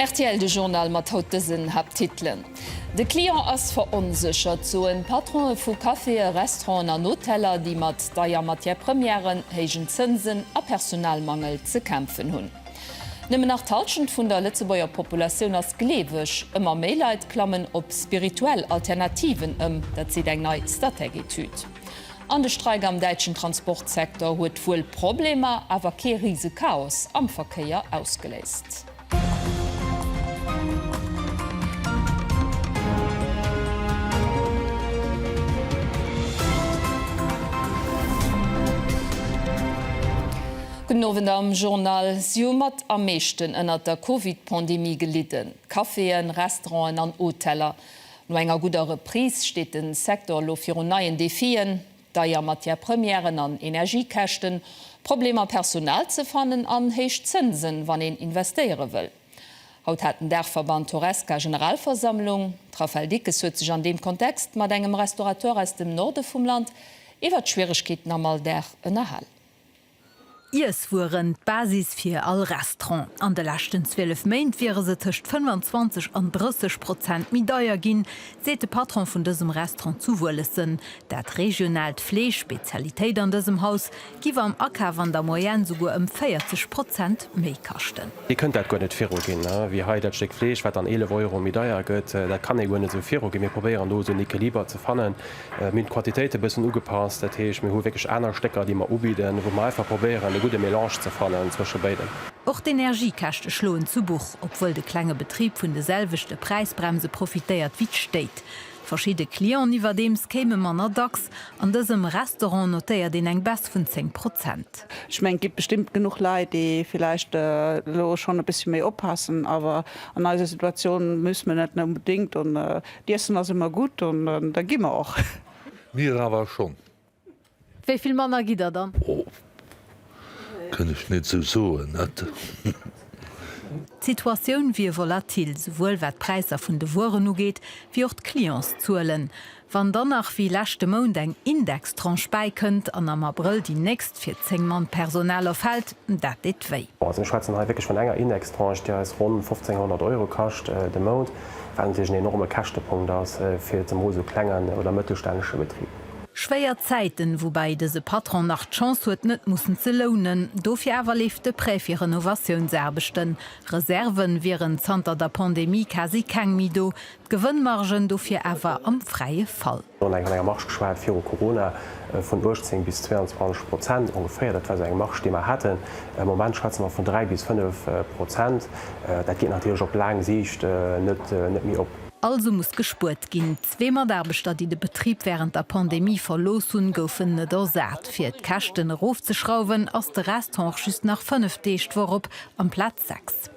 Rtl, de Journal mat haut dësen Haapttitelen, De Client ass veronséchert, soen d'Patronen vu Caféë, Restauranten an Hoteller, déi mat deier Matière-Premièren, héijen Zënsen a Personalmangel ze kämpfen hunn. Nëmmen nach d'Halschent vun der Lëtzebuerger Populatioun ass gleeweg. Ëmmer méi Leit klammen op spirituell Alternativen ëm. Dat seet eng nei Statec-Etüd. An de Streik am däitschen Transportsecteur huet wuel Problemer, awer kee rise Chaos am Verkéier ausgeléist. Gudden Owend am Journal. Si hu mat am meeschten ënnert der Covid-Pandemie gelidden, d'Caféen, Restauranten an Hoteller. No enger gudder Reprise steet de Secteur elo virun neien Defien, deier Matière-Premièren an Energiekäschten, Problemer Personal ze fannen an héich Zënsen, wann een investéiere wëll. Haut hat den Daachverband Horesca Generalversammlung. D'Raffaëlle Dickes huet sech an deem Kontext mat engem Restaurateur aus dem Norde vum Land iwwer d'Schwieregkeeten am Alldag ënnerhal. Iesswueren, d'Basis fir all Restaurant. An de leschten 12 Méint wiere se tëscht 25 an 30 Prozent méi deier ginn, seet de Patron vun dësem Restaurant zu Wuelessen. Dat regionaalt Fleesch, Spezialitéit an dësem Haus, giff am Akaf an der Moyenne souguer ëm 40 Prozent méi kaschten. Dir kënnt dat guer net viruginn, wéi hei dat Stéck Fleesch, wat dann 11 Euro méi deier gëtt. Dat kann ee guer net esou viruginn. Mir probéieren do esou en Equiliber ze fannen. Mir hunn d'Quantitéite e bëssen ugepasst, dat heescht, mir hu wierklech aner Stécker, déi mer ubidden, wou mer einfach probéieren, e gudde Melange ze fannen zwësche béidem. Och d'Energiekäschte schloen zu Buch, obwuel de klenge Betrib vun de selwechte Präisbremse profitéiert wéi d'Stéit. Verschidde Clienten iwwerdeems kéime manner dacks. An dësem Restaurant notéiert een eng Baisse vun 10 Prozent. Ech mengen, et gi bestëmmt genuch Leit, déi vläicht elo schonn e bëssi méi oppassen, awer an eiser Situatioun muss mir net onbedéngt. D'Iessen ass emmer gudd an da gi mer och. Mir awer schon. Wéi vill manner gitt der dann? Oh, kënn ech nit sou soen, net. D'Situatioun wier volatil, souwuel wat d'Präisser vun de Wueren ugeet, wéi och d'Clientszuelen. Wann dann nach wéi leschte Mount eng Indextranche bäikënnt an am Abrëll déi nächst fir 10 Mann Personal erfält, dat deet wéi. Also mir schwätzen hei wierklech vun enger Indextranche, déi eis ronn 1.500 Euro kascht de Mount. wat natierlech en enorme Käschtepunkt ass fir zemol esou klenge oder mëttelstännesche Betrib. Schwéier Zäiten, woubäi dëse Patron nach d'Chance huet net mussen ze lounen. Dofir awer leeft de Prêt fir Renovatiounsaarbechten. Reserve wieren zanter der Pandemie quasi keng méi do, d'Gewënnmargen dofir awer am fräie Fall. Mir hunn eng vun enger Marge geschwat, viru Corona, vun 18 bis 22 Prozent ongeféier. Dat war esou eng Marge, déi mer haten. Am Moment schwätze mer vun dräi bis fënnef Prozent. Dat geet natierlech op laang Siicht net méi op. Also muss gespuert ginn. Zwee Mataarbechter, déi de Betrib wärend der Pandemie verlooss hunn, goufen net ersat. Fir d'Käschten erofzeschrauwen, ass de Resthonch just nach fënnef Deeg d'Woch op, amplaz sechs.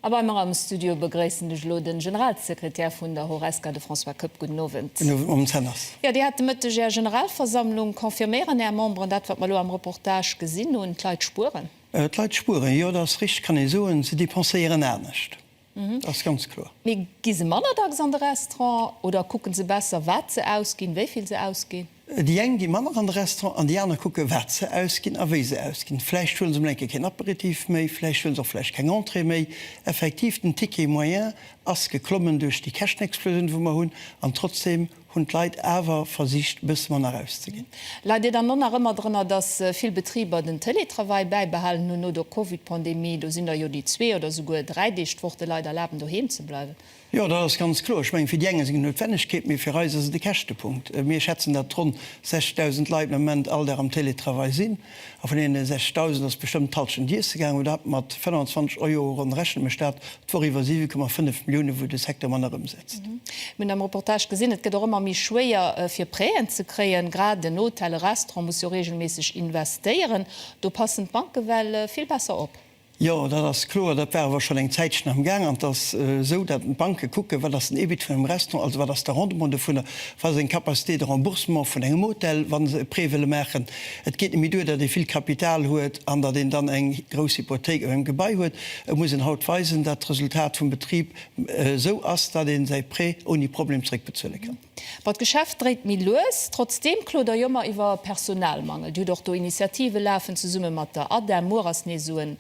A bei mer am Studio begréissen ech elo de Generalsekretär vun der Horesca, de François Koepp. Gudden Owend. Gudden Owend, Mme Zenners. Jo, Dir hat de Mëtteg Är Generalversammlung. Confirméieren Är Memberen dat, wat mer elo am Reportage gesinn hunn, D'Leit spueren? D'Leit spueren, jo, dat ass richteg, kann ee soen. Se depenséieren anescht, dat ass ganz kloer. Mee gi se manner dacks an de Restaurant oder kucke se besser, wat se ausginn, wéi vill se ausginn? Déi eng gi manner an de Restaurant an déi aner kucke wat se ausginn a wéi se ausginn. Vläicht huele se mol eng Kéier keen Aperitif méi, vläicht huele se och vläicht keng Entrée méi. Effektiv, den Ticket moyen ass geklommen duerch déi Käschtenexplosioun, wou mer hunn, an trotzdeem hunn d'Leit awer versicht e bësse manner rauszeginn. Leit Dir dann do nach ëmmer drënner, dass vill Betriber den Télétravail bäibehalen hunn no der Covid-Pandemie? Do sinn der jo, déi zwee oder souguer dräi Deeg d'Woch de Leit erlaben doheem ze bleiwen. Jo, dat ass ganz kloer. Ech mengen, fir déi eng ass et eng Noutwennegkeet, mee fir eis ass et e Käschtepunkt. Mir schätzen, datt ronn 60.000 Leit den Ament all Dag am Télétravail sinn. A vun deene 60.000 ass bestëmmt d'Hallschent iesse gaangen, oder dat mat 25 Euro ronn. Rechne mech dat d'Woch iwwer, 7,5 Milliounen, wou de Secteur manner ëmsetzt. Mir hunn am Reportage gesinn, et gëtt och ëmmer méi schwéier, fir Prêten ze kréien. Grad en Hotel, e Restaurant muss jo reegelméisseg investéieren. Do passen d'Banke well vill besser op. Jo, dat ass kloer. Dat war awer schonn eng Zäitchen am Gaang. An et ass esou, datt d'Banke kucken, wat ass den EBIT vun engem Restaurant, also wat ass de Rendement dovunner, wat ass eng Capacité de remboursement vun engem Hotel, wa se e Prêt wëlle maachen. Et geet net méi duer, datt ee vill Kapital huet an datt een dann eng grouss Hypothéik op engem Gebai huet. Et muss een haut weisen, datt d'Resultat vum Betrib esou ass, datt ee säi Prêt ouni Problem zeréckbezuele kann. Bon, d'Geschäft dréit méi lues. Trotzdeem klodere jo mer iwwer Personalmangel. Dir hutt och do Initiative lafen zesumme mat der ADEM. Muer ass nees esou en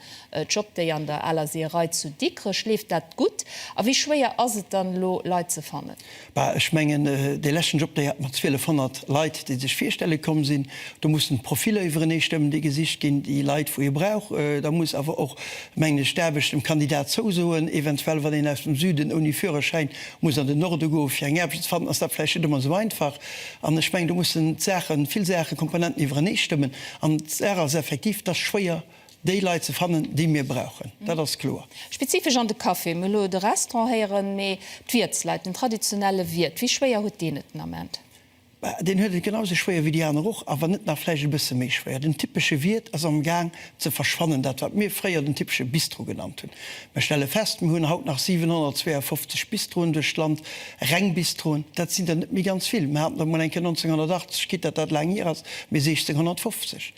Job Day an der aler Seeërei zu Dikrech. Leeft dat gutt? A wéi schwéier ass et dann elo Leit ze fannen? Bah, ech mengen, dee leschten Job Day hat mer 1,200 Leit, déi sech virstelle komm sinn. Do mussen d'Profiller iwwerenee stëmmen, déi gesicht ginn, déi Leit, wou ee brauch. Da muss awer och, mengen ech, d'Aarbecht dem Kandidat zousoen. Eventuell, wann een aus dem Süden ouni Führerschäin muss an den Norde goen, fir eng Aarbecht ze fannen, ass dat vläicht net ëmmer esou einfach. An ech mengen, do mussen d'Saachen, vill Saachen, Komponenten iwwerenee stëmmen. An d'Saach ass effektiv, et ass schwéier, déi Leit ze fannen, déi mir brauchen. Dat ass kloer. Spezifesch an de Caféen, mir hu elo de Restaurant héieren, mee d'Wiertsleit, den traditionelle Wiert, wéi schwéier huet deen et den Ament? Deen huet et genau sou schwéier wéi déi aner och, a wann net nach vläicht e bësse méi schwéier. Den typesche Wiert ass am Gaang ze verschwannen, dat wat mir fréier den typesche Bistro genannt hunn. Mir stelle fest, mir hunn haut nach 752 Bistroen duerch d'Land, reng Bistroen. Dat sinn der net méi ganz vill. Mir haten der emol enke 1980, quitt datt dat laang hier ass, mee 1650.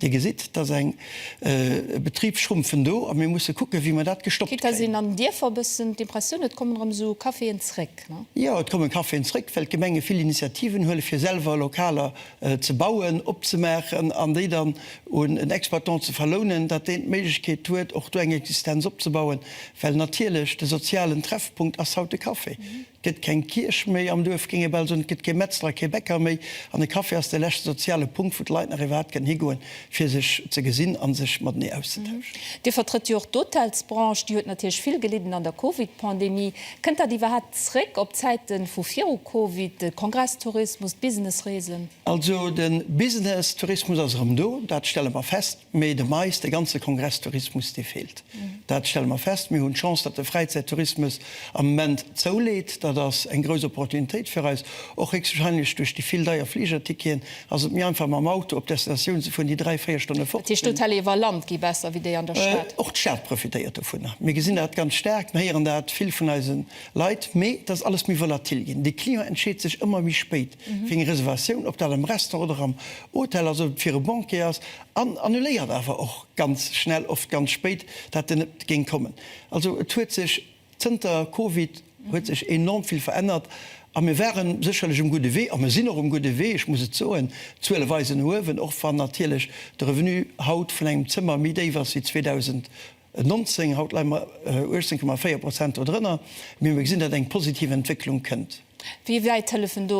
Dir gesitt, dass eng Betrib schrumpfen do a mir musse kucken, wéi mer dat gestoppt kréien. Kritt een an den Dierfer e bëssen d'Impressioun, et kommen erëm esou Caféen zréck? Jo, et kommen Caféen zréck, well d'Gemenge vill Initiativen huelen, fir selwer Lokaler ze bauen, opzemaachen an déi dann un en Exploitant ze verlounen, datt deen d'Méiglechkeet huet, och do eng Existenz opzebauen, well natierlech de sozialen Treffpunkt ass haut de Café. Gëtt keng Kierch méi am Duerf, géing ee bal soen, et gëtt kee Metzler a kee Bäcker méi, an e Café ass de leschte soziale Punkt, wou d'Leit nach iwwerhaapt kënnen higoen, fir sech ze gesinn a sech matenee auszetauschen. Dir vertrëtt jo och d'Hotelsbranche, déi huet natierlech vill gelidden an der Covid-Pandemie. Kënnt dat iwwerhaapt zréck op d'Zäite vu viru Covid, de Kongresstourismus, d'Businessreesen? Also de Businesstourismus ass erëm do, dat stelle mer fest. Mee de Mais, de ganze Kongresstourismus, dee feelt. Dat stelle mer fest. Mir hunn d'Chance, datt de Fräizäittourismus am Moment zouleet. Dat ass eng grouss Opportunitéit fir eis. Och héchstwahrscheinlech duerch déi vill deier Fligerticketen ass et méi einfach mam Auto op d'Destinatioun ze fueren, déi dräi, véier Stonne fort sinn. Dat heescht, d'Hotelle iwwer Land gi besser wéi déi an der Stad? Och d'Stad profitéiert dovunner. Mir gesinn dat ganz staark. Mir héieren dat vill vun eise Leit. Mee et ass alles méi volatil ginn. De Client entscheet sech ëmmer méi spéit fir eng Reservatioun, ob dat am Restaurant oder am Hotel, also fir e Banquet ass, an annuléiert awer och ganz schnell, oft ganz spéit, dat en net géing kommen. Also et huet sech zënter Covid huet sech enorm vill verännert a mir ware sécherlech um gudde Wee a mir sinn och um gudde Wee, ech muss et soen, d'Zuele weisen no uewen, och wann natierlech de Revenu haut vun engem Zëmmer méi déif ass wéi 2019. 19, haut leie mer 18,4 Prozent dodrënner, mee mer gesinn, datt eng positiv Entwécklung kënnt. Wéi wäit hëllefen do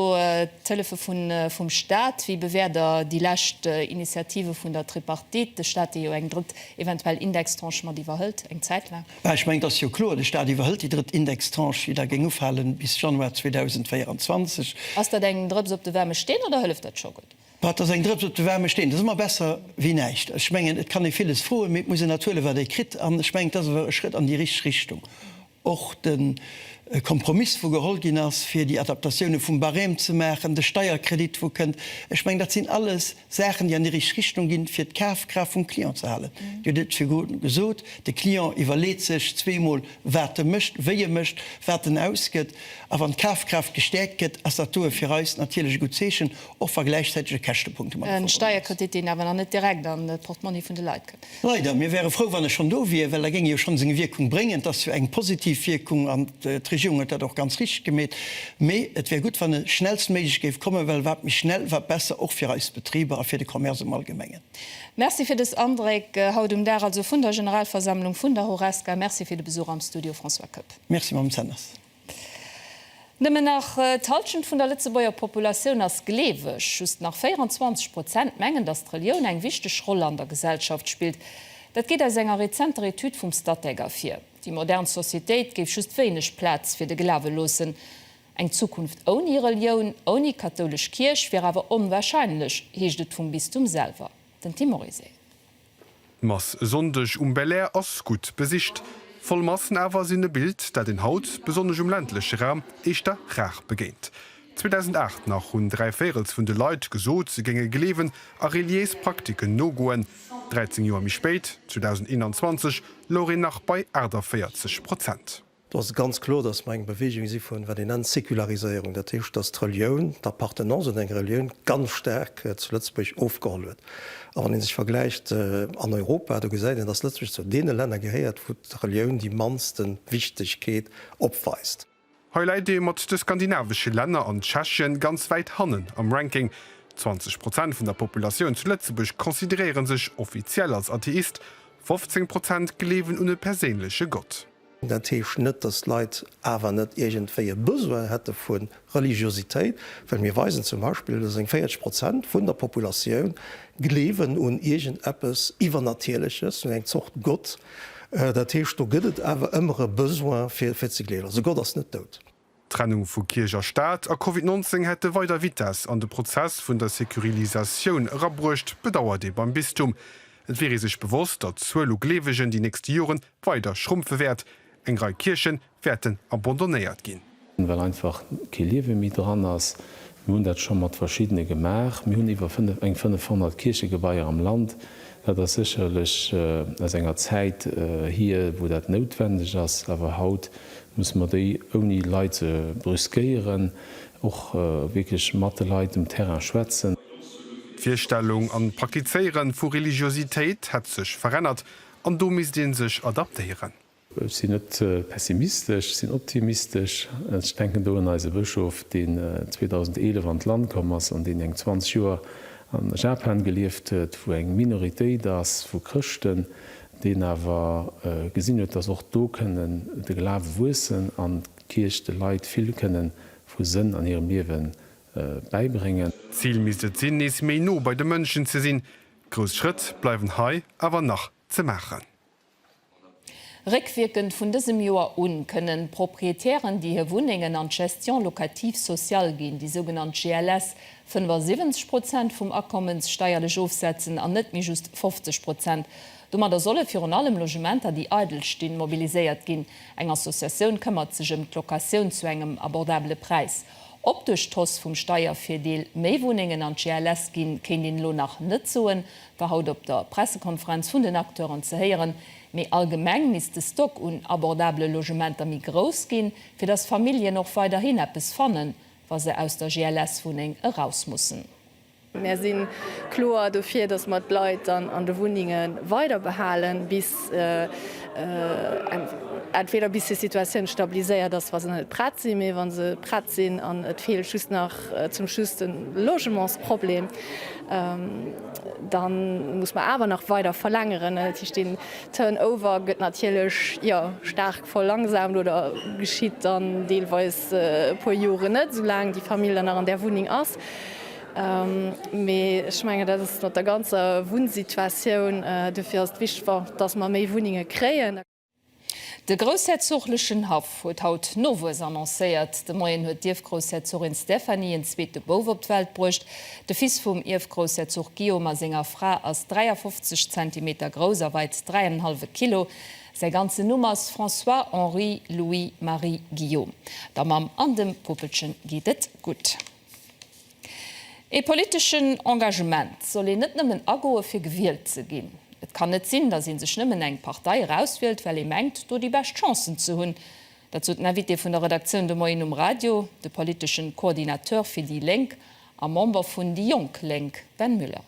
d'Hëllefe vum Staat? Wéi bewäert Der déi lescht Initiative vun der Tripartite, de Staat, dee jo eng drëtt eventuell Indextranche mat iwwerhëlt, eng Zäit laang? Mä ech mengen, et ass jo kloer, de Staat iwwerhëlt déi drëtt Indextranche, déi da géing ufalen bis Januar 2024. Ass dat eng Drëps op de waarme Steen oder hëlleft dat scho gutt? Wat ass eng Drëps op de waarme Steen? Dat ass ëmmer besser wéi näischt. Ech mengen, et kann ee villes froen, mee et muss een dat huelen, wat ee kritt. An ech mengen, et ass awer e Schrëtt an déi richteg Richtung. Och de Kompromiss, wou geholl ginn ass, fir déi Adaptatioune vum Barème ze maachen, de Steierkredit, wou kënnt, ech mengen, dat sinn alles Saachen, déi an déi richteg Richtung ginn, fir d'Kafkraaft vum Client ze halen. Dir hutt et virdru gesot, De Client iwwerleet sech zweemol, wat e mécht, wéi e mécht, wat en ausgëtt. A wann d'Kafkraaft gestäerkt gëtt, ass dat doe fir eis natierlech e gutt Zeechen, Och wa gläichzäiteg e Käschtepunkt domadder verbonnen ass. E Steierkredit, deen awer nach net direkt an de Portmonni vun de Leit kënn. Leider. Mir wäre frou, wann e schonn do wier, well da géing e jo schonn seng Wierkung bréngen. Et ass jo eng positiv Wierkung an d'Regierung huet dat och ganz richteg gemeet. Mee et wär gutt, wann e schnellstméiglech géif kommen, well wat méi schnell, wat besser, och fir eis Betriber a fir de Commerce am Allgemengen. Merci fir dës Andréck haut um Dag also vun der Generalversammlung vun der Horesca. Merci fir de Besuch am Studio, François Koepp. Merci, Mme Zenners. Nëmmen nach d'Hallschent vun der Lëtzebuerger Populatioun ass gleeweg. Just nach 24 Prozent mengen, datt d'Relioun eng wichteg Roll an der Gesellschaft spillt. Dat geet aus enger rezenter Etüd vum Statec ervir. Déi modern Societéit géif just wéineg Plaz fir de Glawe loossen. Eng Zukunft ouni Relioun, ouni kathoulesch Kierch, wier awer onwarscheinlech, heescht et vum Bistum selwer. Den Tim Morizet. D'Mass e Sonndeg um Belair ass gutt besicht. Voll Massen awer sinn e Bild, dat een haut, besonnesch um ländleche Raum, éischter rar begéint. 2008 nach hunn dräi Véirels vun de Leit gesot, se géinge gleewen a reliéis Praktiken nogoen. 13 Joer méi spéit, 2021, louch een nach bei 48 Prozent. Do ass et ganz kloer, dass mer eng Bewegung si vun, wat een nennt, Sekulariséierung. Dat heescht, dass d'Relioun, d'Appartenance un eng Relioun ganz staark zu Lëtzebuerg ofgeholl huet. A wann ee sech vergläicht an Europa, do gesäit een, dass Lëtzebuerg zou deene Länner gehéiert, wou d'Relioun déi mannste Wichtigkeet opweist. Hei läit ee mat de skandinavesche Länner an Tschechien ganz wäit hannen am Ranking. 20 Prozent vun der Populatioun zu Lëtzebuerg consideréiere sech offiziell als Atheist, 15 Prozent gleewen un e perséinleche Gott. Dat heescht net, datt d'Leit awer net iergendwéi e Besoin hätte vu Religiositéit, well mir weisen zum Beispill, datt eng 40 Prozent vun der Populatioun gleewen un iergend eppes Iwwernatierleches, un eng Zort Gott. Dat heescht, do gëtt et awer ëmmer e Besoin, fir ze gleewen. Also Gott ass net dout. D'Trennung vu Kierch a Staat a Covid 19 hätte weider Vitess an de Prozess vun der Securilisatioun erabruecht, bedauert ee beim Bistum. Et wier ee sech bewosst, datt d'Zuel u Gleewegen déi nächste Jore weider schrumpfe wäert. Eng Rei Kierche wäerten abandonnéiert ginn. Well einfach kee Liewe méi dran ass. Mir hunn dat scho mat verschiddene gemaach. Mir hunn iwwer eng 500 Kierchegebaier am Land, Dat ass sécherlech aus enger Zäit hier, wou dat noutwendeg ass, awer haut musse mer déi, ouni Leit ze brüskéieren, och wierklech mat de Leit um Terrain schwätzen. D'Virstellung an d'Praktizéiere vu Religiositéit hätt sech verännert an do misst ee sech adaptéieren. Ech sinn net pessimistesch, ech sinn optimistesch. Ech denken do un eise Bëschof, deen 2011 an d'Land komm ass an deen eng 20 Joer a Japan gelieft huet, wou eng Minoritéit ass vu Chrëschten, deen awer gesinn huet, dass och do kënnen de Glawe wuessen an d'Kierch de Leit vill kënnen vu Sënn an hirem Liewe bäibréngen. D'Zil misst et sinn, nees méi no bei de Mënschen ze sinn. Grouss Schrëtt bleiwen hei awer nach ze maachen. Réckwierkend vun dësem Joer u kënnen Proprietären, déi hir Wunnengen an d'Gestion locative sociale ginn, déi sougenannt GLS, 75 Prozent vum Akommens steierlech ofsetzen an net méi just 50 Prozent. Domadder solle virun allem Logementer, déi eidel stinn, mobiliséiert ginn. Eng Associatioun këmmert sech ëm d'Locatioun zu engem abordabele Präis. Ob duerch d'Hausse vum Steiervirdeel méi Wunnengen an d'GLS ginn, kéint een elo nach net soen. war haut op der Pressekonferenz vun den Acteuren ze héieren, mee allgemeng misst de Stock un abordabele Logementer méi grouss ginn, fir datt Familljen och weiderhin eppes fannen, wa se aus der GLS-Wunneng eraus mussen. Mär si kloer dofir, datt mer d'Leit dann an de Wunnenge weider behalen, entweder bis hir Situatioun stabiliséiert ass, wa se net prett sinn, mee wa se prett sinn an et feelt just nach zum Schluss de Logementsproblem. Dann muss mer awer nach weider verlängeren. Dat heescht den Turnover gëtt natierlech jo staark verlangsamt oder geschitt dann deelweis e puer Joren net, soulaang déi Famill dann nach an där Wunneng ass. Mee ech mengen dat ass mat der ganzer Wunnsituatioun. Dofir ass et wichteg, dass mer méi Wunnenge kréien. De groussherzoglechen Haff huet haut Nowuess annoncéiert. De Moien huet d'Ierfgroussherzogin Stéphanie en zweete Bouf op d'Welt bruecht. De Fils vum Ierfgroussherzog Guillaume a senger Fra ass 53 Zentimeter grouss a weit dräi an en hallwe Kilo. Säi ganzen Numm ass François Henri Louis Marie Guillaume. Der Mamm an dem Puppelchen geet et gutt. Ee politeschen Engagement soll een net nëmmen agoe fir gewielt ze ginn. Et kann net sinn, datt ee sech nëmmen eng Partei erauswielt, well ee mengt, do déi bescht Chancen ze hunn. Dat sot den Invité vun der Redaktioun de Moien um Radio, de politeschen Coordinateur fir déi Lénk a Member vun déi jonk Lénk Ben Müller.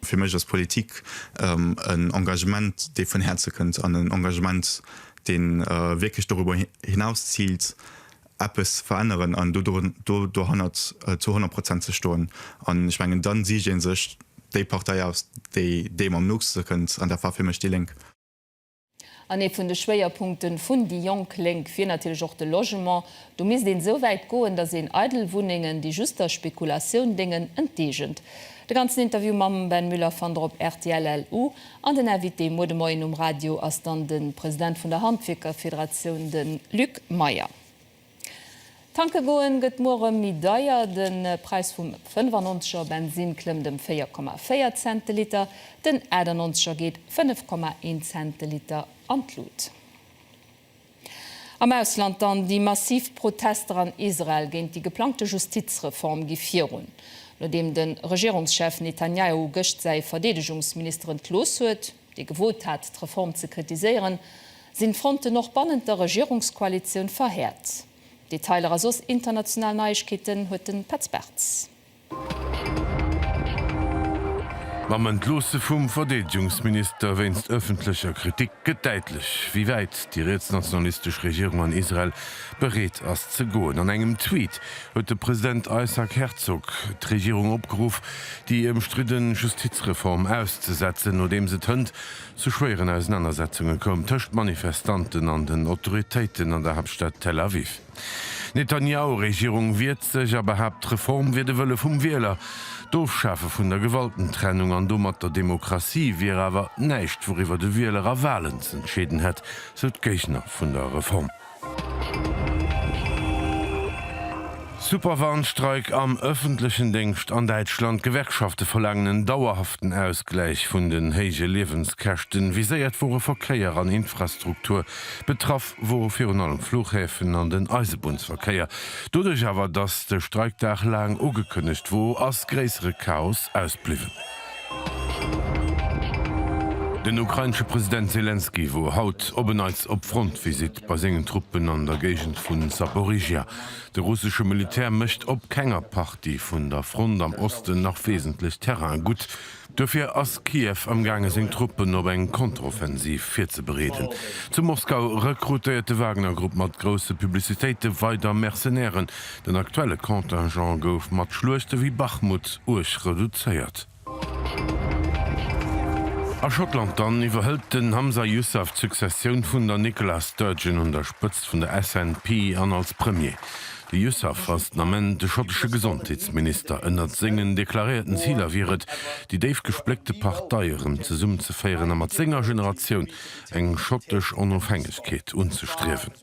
Fir mech ass Politik en Engagement, dee vun Häerze kënnt, an en Engagement, dee wierklech doriwwer hinaus ziilt, eppes veränneren an do dohannert zu honnert Prozent ze stoen. An ech mengen, da sicht ee sech déi Partei aus, déi deem am nochste kënnt, an dat war fir mech déi Lénk. An ee vun de Schwéierpunkte vun déi jonk Lénk wier natierlech och de Logement. Do misst een esou wäit goen, datt een eidel Wunnengen, déi just der Spekulatioun déngen, enteegent. De ganzen Interview mam Ben Müller fannt der op rtl-elu. An den Invité muer de Moien um Radio ass dann de President vun der Handwierkerfederatioun, de Luc Meyer. Tanke goen gëtt muere méi deier, De Präis vum 95er Bensinn klëmmt ëm 4,4 Cent de Liter, den 98er geet 5,1 Cent de Liter an d'Lut. Am Ausland dann, Déi massiv Protester an Israel géint déi geplangte Justizreform gi virun, nodeem de Regierungschef Netanjahu gëscht säi Verdeedegungsminister entlooss huet. dee gewot hat d'Reform ze kritiséieren, sinn d'Fronten och bannent der Regierungskoalitioun verhäert. Detailer a soss international Neiegkeeten huet de Petz Bartz. Mam Entloosse vum Verdeedegungsminister wéinst ëffentlecher Kritik gëtt däitlech, wéi wäit déi rietsnationalistesch Regierung an Israel bereet ass ze goen. An engem Tweet huet de President Isaac Herzog d'Regierung opgeruff, déi ëmstridde Justizreform auszesetzen, nodeems et hënt zu schwéieren Ausenanersetzunge koum tëscht Manifestanten an den Autoritéiten an der Haaptstad Tel Aviv. D'Netanyahu-Regierung wiert sech a behaapt, d'Reform wier de Wëlle vum Wieler. D'Ofschafe vun der Gewaltentrennung an domat der Demokratie wier awer näischt, wouriwwer de Wieler a Walen z'entscheeden hätt, sou d'Géigner vun der Reform. Super Warnstreik am ëffentlechen Déngscht an Däitschland, D'Gewerkschafte verlaangen en dauerhaften Ausgläich vun den héije Liewenskäschten. Viséiert wore Verkéier an Infrastruktur. Betraff wore virun allem d'Flughäfen an den Eisebunnsverkéier. Doduerch awer, datt de Streikdag laang ugekënnegt wor, ass gréissere Chaos ausbliwwen. Den ukrainesche President Selenskyj wor haut op en Neits op Frontvisite bei sengen Truppen an der Géigend vu Saporižžja. De russesche Militär mécht op kenger Partie vun der Front am Osten nach wesentlech Terraine gutt. Duerfir ass Kiew amgaange seng Truppen op eng Kontroffensiv virzebereeden. Zu Moskau rekrutéiert de Wagner-Grupp mat grousse Publicitéite weider Mercenairen. Den aktuelle Contingent gouf mat Schluechte wéi Bachmut uerg reduzéiert. A Schottland dann iwwerhëlt den Humza Yousaf d'Successioun vun der Nicola Sturgeon un der Spëtzt vun der SNP an als Premier. De Yousaf ass den Ament de schottesche Gesondheetsminister. Ënnert sengen deklaréierten Ziler wier et, déi déif gespléckte Partei erëm zesummenzeféieren a mat senger Generatioun eng schottesch Onofhängegkeet unzestriewen.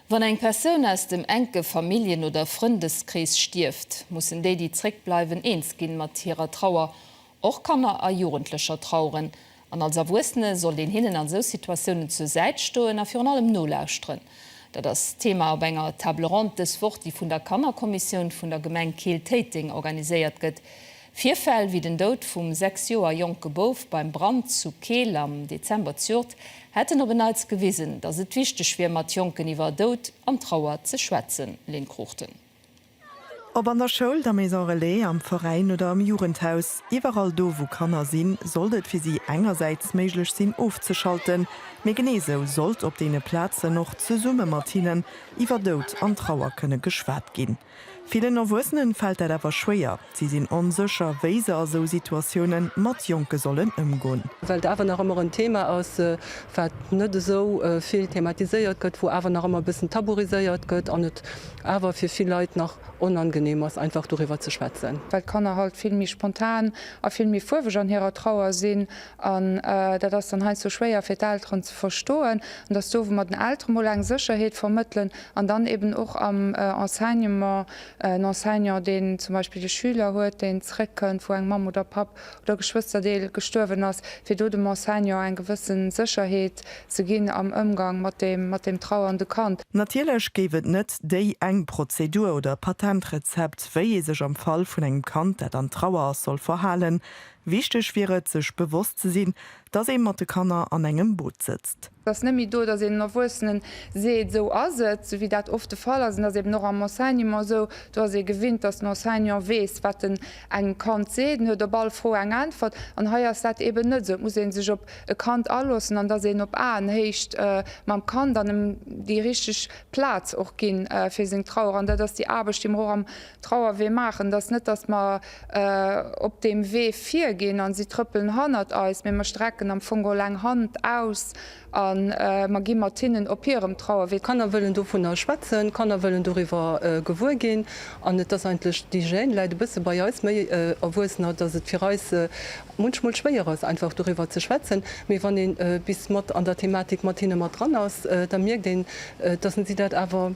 Wann eng Persoun aus dem enke Familljen oder Frëndeskrees stierft, mussen déi, déi zréckbleiwen, eens ginn mat hirer Trauer. Och Kanner a Jugendlecher traueren, an als Erwuessene sollt een hinnen an esou Situatiounen zur Säit stoen a virun allem nolauschteren. Dat ass Thema op enger Table ronde dës Woch, déi vun der Kannerkommissioun vun der Gemeng Keel-Téiteng organiséiert gëtt. Virfäll wéi den Doud vum sechs Joer jonke Bouf beim Brand zu Keel am Dezember zjort hätten op en Neits gewisen, datt et wichteg wier, mat Jonken iwwer Doud an Trauer ze schwätzen. Lynn Cruchten. Ob an der Schoul, der Maison Relais, am Veräin oder am Jugendhaus, iwwerall do wou Kanner sinn, sollt et fir si engersäits méiglech sinn ofzeschalten, mee genee sou sollt op deene Plazen och zesumme mat hinnen iwwer Doud an Trauer kënne geschwat ginn. Villen Erwuessenen fält dat awer schwéier. Si sinn onsécher, wéi se a sou Situatioune mat Jonke sollen ëmgoen. Well et awer nach ëmmer en Thema ass, wat net esou vill thematiséiert gëtt, wou awer nach ëmmer e bëssen taburiséiert gëtt an et awer fir vill Leit nach onangeneem ass, einfach doriwwer ze schwätzen. Well d'Kanner halt vill méi spontan a vill méi fuerweg an hirer Trauer sinn An dat ass dann heiansdo schwéier fir d'Elteren ze verstoen. An dass do, wou mer den Eltere mol eng Sécherheet vermëttelen an dann eben och am Enseignement, en Enseignant, deen zum Beispill e Schüler huet, deen zréckkënnt, wou eng Mamm oder Papp oder Geschwësterdeel gestuerwen ass, fir do dem Enseignant eng gewësse Sécherheet ze ginn am Ëmgang mat deem, mat deem trauernde Kand. Natierlech géif et net déi eng Prozedur oder Patentrezept, wéi ee sech am Fall vun engem Kand, dat an Trauer ass, soll verhalen. Wichteg wier et, sech bewosst ze sinn, dass ee mat de Kanner an engem Boot sëtzt. Et ass net méi do, dass een Erwuessenen seet, esou ass et, esou wéi dat oft de Fall ass. An dat ass eben och am Enseignement esou. Do ass ee gewinnt, dass den Enseignant weess, wat en engem Kand seet. En huet op all Fro eng Äntwert. An hei ass dat eben net esou. Et muss ee sech op e Kand aloossen an dass een op Aenhéicht mam Kand an em déi richteg Plaz och ginn fir seng Trauer. An dat ass déi Aarbecht, déi mer och am Trauerwee maachen, dat ass net, datt mer op deem Wee virginn a si trëppelen hannert eis, mee mer strecken am Fong geholl eng Hand aus a mer gi mat hinnen op hirem Trauerwee. D'Kanner wëllen dovunner schwätzen, d'Kanner wëllen doriwwer gewuer ginn. An et ass eigentlech, déi Gêne läit e bësse bei eis méi Erwuessener, datt et fir eis munchmol schwéier ass, einfach doriwwer ze schwätzen. Mee wann ee bis mat an der Thematik mat hinne mat dran ass, da mierkt een, datt se dat awer.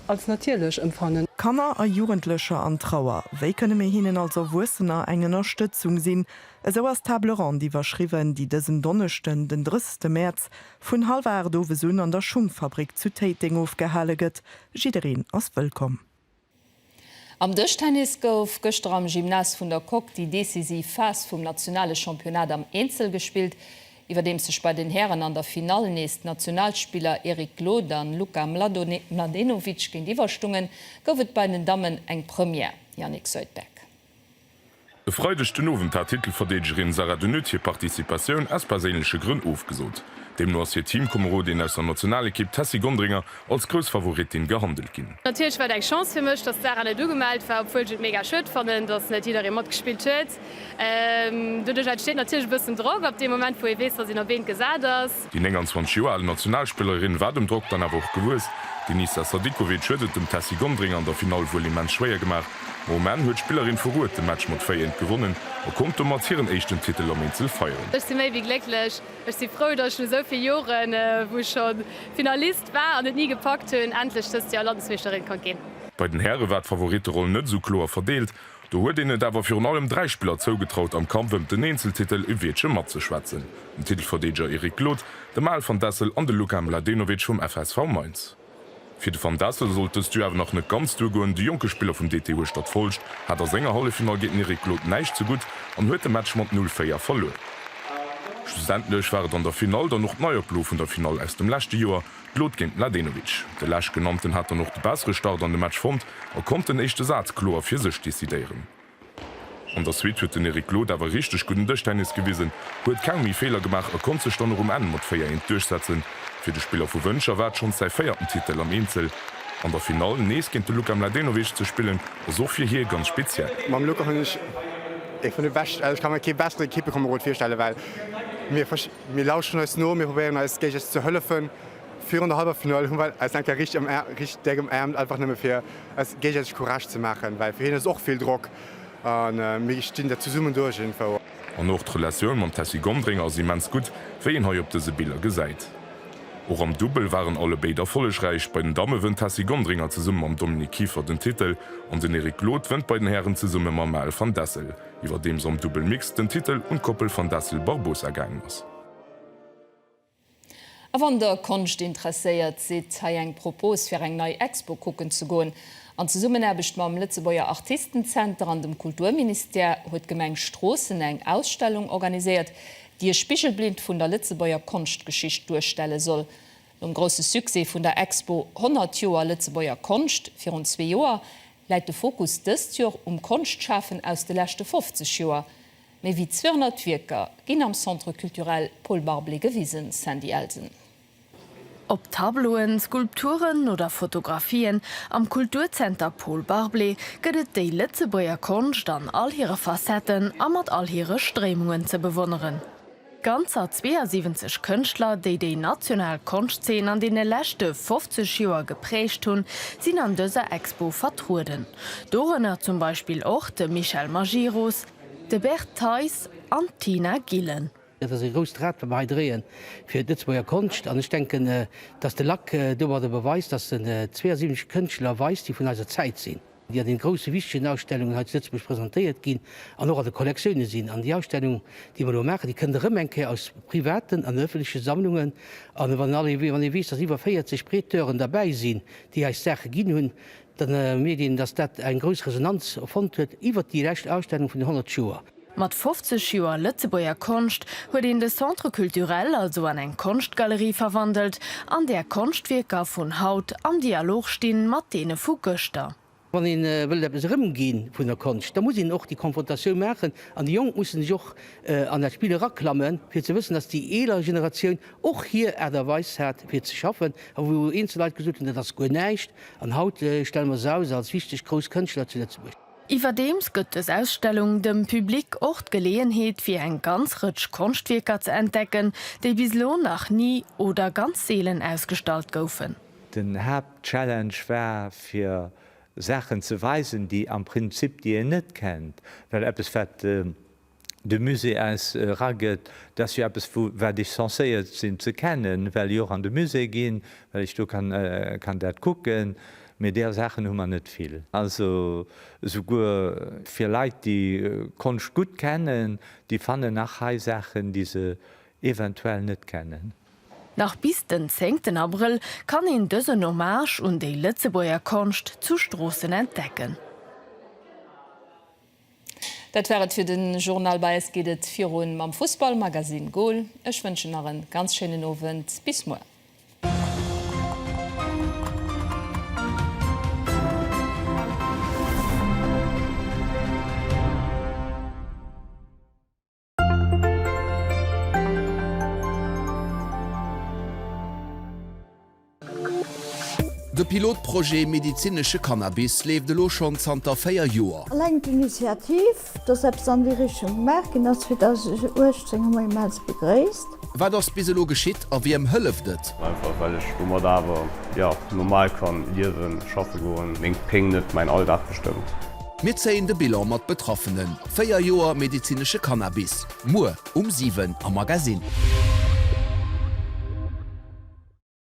als natierlech empfannen. Kanner a Jugendlecher an Trauer, wéi kënne mir hinnen als Erwuessener eng Ënnerstëtzung sinn? Esou ass d'Table ronde iwwerschriwwen, déi dësen Donneschden, den 30 Mäerz, vun hallwer 8 owes un an der Schungfabrik zu Téiteng ofgehale gëtt. Jiddereen ass wëllkomm. Am Dëschtennis gouf gëschter am Gymnase vun der Coque déi decisiv Phas vum nationale Championnat am Eenzel gespillt, iwwerdeems sech bei den Hären an der Finall nees d'Nationalspiller Eric Glod a Luka Mladenovic géintiwwerstungen, gouf et bei den Dammen eng Première, Yannick Soitbeck. E Freideg den Owend hat d'Titelverdeedegerin Sarah de Nutt hir Participatioun aus perséinleche Grënn ofgesot. Deemno ass hir Teamkomerodin aus der Nationalekipp Tessy Gondringer als grouss Favoritin gehandelt ginn. Natierlech war et eng Chance fir mech, datt d'Sarah net ugemellt war, obwuel ech et mega schued fannen, datt net jidderee matgespillt huet. Doduerch entsteet natierlech e bëssen Drock ab deem Moment, wou ee weess, datt een op eent gesat ass. Déi 29 Joer al Nationalspillerin war dem Drock dann awer och gewuess. D'Enisa Sadikovic huet et dem Tessy Gondring an der Finall wuel immens schwéier gemaach, ma um Enn huet d'Spillerin vu Rued de Match mat 4:1 gewonnen a konnt domat hiren éischten Titel am Eenzel feieren. Ech si méi wéi glécklech. Ech si frou, datt ech no esou vill Joren, wou ech scho Finalist war an et ni gepackt hunn, endlech dëst Joer Landesmeeschterin konnt ginn. Bei den Häre war d'Favoritteroll net esou kloer verdeelt. Do huet een et awer virun allem dräi Spiller zougetraut, am Kampf ëm den Eenzeltitel e Wiertche matzeschwätzen, den Titelverdeedeger Eric Glod, de Mael van Dessel an de Luka Mladenovic vum FSV Mainz. Fir de van Dessel sollt dëst Duo awer nach net ganz duergoen, de jonke Spiller vum DT Hueschtert-Folscht hat a senger Halleffinall géint den Eric Glod näischt ze gutt an huet de Match mat 0, 4 verluer. Schlussendlech war et an der Finall dann och d'Neioplo vun der Finall aus dem leschte Joer, D'Lod géint Mladenovic. De lech genannten hat dann och de bessere Start an de Match fonnt a konnt den éischte Saz kloer fir sech decidéieren. An der Suite huet den Eric Lod awer richteg gudden Dëschtennis gewisen, huet keng méi Feeler gemaach a konnt sech dann och um Enn mat 4, 1 duerchsetzen. Fir de Spiller vu Wëncher war et schonns säi véierten Titel am Eenzel. An der Finall nees géint de Luka Mladenovic ze spillen ass och fir hie ganz speziell. Mam Luka hunn ech ee vun de beschten, also ech ka mer kee bessere Kippekamerod virstellen, well mir. Mir lauschteren eis no, mir probéieren eis géigesäiteg ze hëllefen. Virun der Hallwerfinall hu mer eis eng Kéier richteg déck ëmaarmt, einfach nëmme fir eis géigesäiteg Courage ze maachen, well fir hien ass et och vill Drock a mir stinn dat zesummen duerch iergendwou. An och d'Relatioun mam Tessy Gondringer ass immens gutt, wéi een hei op dëse Biller gesäit. Och am Dubbel waren alle béid erfollegräich. Bei den Damme wënnt d'Tessy Gondringer zesumme mam Dominik Kieffer den Titel an den Eric Glod wënnt bei den Hären zesumme mam Maël van Dessel. Iwwerdeems am Double Mixed den Titel un d'Koppel Van Dassel-Barbosa gaangen ass. A wann der Konscht interesséiert sidd, hei eng Propos fir eng nei Expo kucken ze goen. An Zesummenaarbecht mam Lëtzebuerger Artistenzenter an dem Kulturministère huet d'Gemeng Stroossen eng Ausstellung organiséiert, déi e Spigelblind vun der Lëtzebuerger Konschtgeschicht duerstelle soll. Nom grousse Succès vun der Expo 100 Joer Lëtzebuerger Konscht virun zwee Joer, läit de Fokus dëst Joer um Konschtschafen aus de leschte 50 Joer. Méi wéi 200 Wierker ginn am Centre Culturel Paul Barblé gewisen, Sandy Elsen. Ob Tableauen, Skulpturen oder Fotografien, am Kulturzenter Paul Barblé gëtt et déi Lëtzebuerger Konscht an all hire Facetten a mat all hire Stréimungen ze bewonneren. Ganzer 72 Kënschtler, déi déi national Konschtzeen an deene leschte 50 Joer geprägt hunn, sinn an dëser Expo vertrueden. Dorënner zum Beispill och de Michel Majerus, de Bert Theis an d'Tina Gillen. Dat ass e grousst Rad, wat mer hei dréien fir d'Lëtzebuerger Konscht. An ech denken, datt de Lac domadder beweist, datt en 72 Kënschtler weist, déi vun eiser Zäit sinn. déi an den groussen, wichtegen Ausstellungen hei zu Lëtzebuerg presentéiert ginn an och an de Kollektioune sinn. An déi Ausstellung, déi mer elo maachen, déi kënnt erëm eng Kéier aus privaten an ëffentleche Sammlungen. An wann all ee, wann ee weess, datt iwwer 40 Prêteuren derbäi sinn, déi eis d'Saache ginn hunn, da mierkt een, datt dat eng grouss Resonanz fonnt huet iwwert déi lescht Ausstellung vun den 100 Joer. Mat 50 Joer Lëtzebuerger Konscht huet een de Centre Culturel also an eng Konschtgalerie verwandelt, an där Konschtwierker vun haut am Dialog sti mat deene vu gëschter. Wann ee wëllt eppes erëmgi vun der Konscht, da muss een och déi Konfrontatioun maachen, an déi Jonk musse sech och an dat Spill eraklammen, fir ze wëssen, datt déi eeler Generatioun och hir Aart a Weis hat fir ze schaffen, a wou eenzel Leit gesot hunn, dat ass guer näischt, an haut stelle mer se aus als wichteg grouss Kënschtler zu Lëtzebuerg. Iwwerdeems gëtt dës Ausstellung dem Public och d'Geleeënheet fir eng ganz Rëtsch Konschtwierker ze entdecken, déi bis elo nach ni oder ganz seelen ausgestallt goufen. Den Haaptchallenge war fir Saachen ze weisen, déi am Prinzip, déi een net kennt, well eppes wat de Musée eis eragëtt, dass jo eppes wou wat ech censéiert sinn ze kennen, well ech och an de Musée ginn, well ech do kann dat kucken, mee där Saachen hu mer net vill. Also esouguer fir Leit déi Konscht gutt kennen, déi fannen nach hei Saachen déi se eventuell net kennen. Nach bis den zéngten Abrëll kann een dësen Hommage un déi Lëtzebuerger Konscht zu Stroossen entdecken. Dat war et fir den Journal. Bei eis geet et virun mam Fussball Magazine Goal. Ech wënschen nach en ganz schéinen Owend. Bis muer. De Pilotprojet Medizinesche Cannabis leeft elo schonn zanter véier Joer. Eleng d'Initiativ, dass eppes an déi Richtung gemaach ginn ass, fir 2018, hu mer immens begréisst. Wat ass bis elo geschitt a wiem hëlleft et? Einfach well ech domat awer, jo, normal kann liewen, schaffen goen, meng Péng net mäin Alldag bestëmmt. Mir zéien de Bilan mat Betraffenen, 4 Joer medezinesche Cannabis, muer um 7 am Magasinn.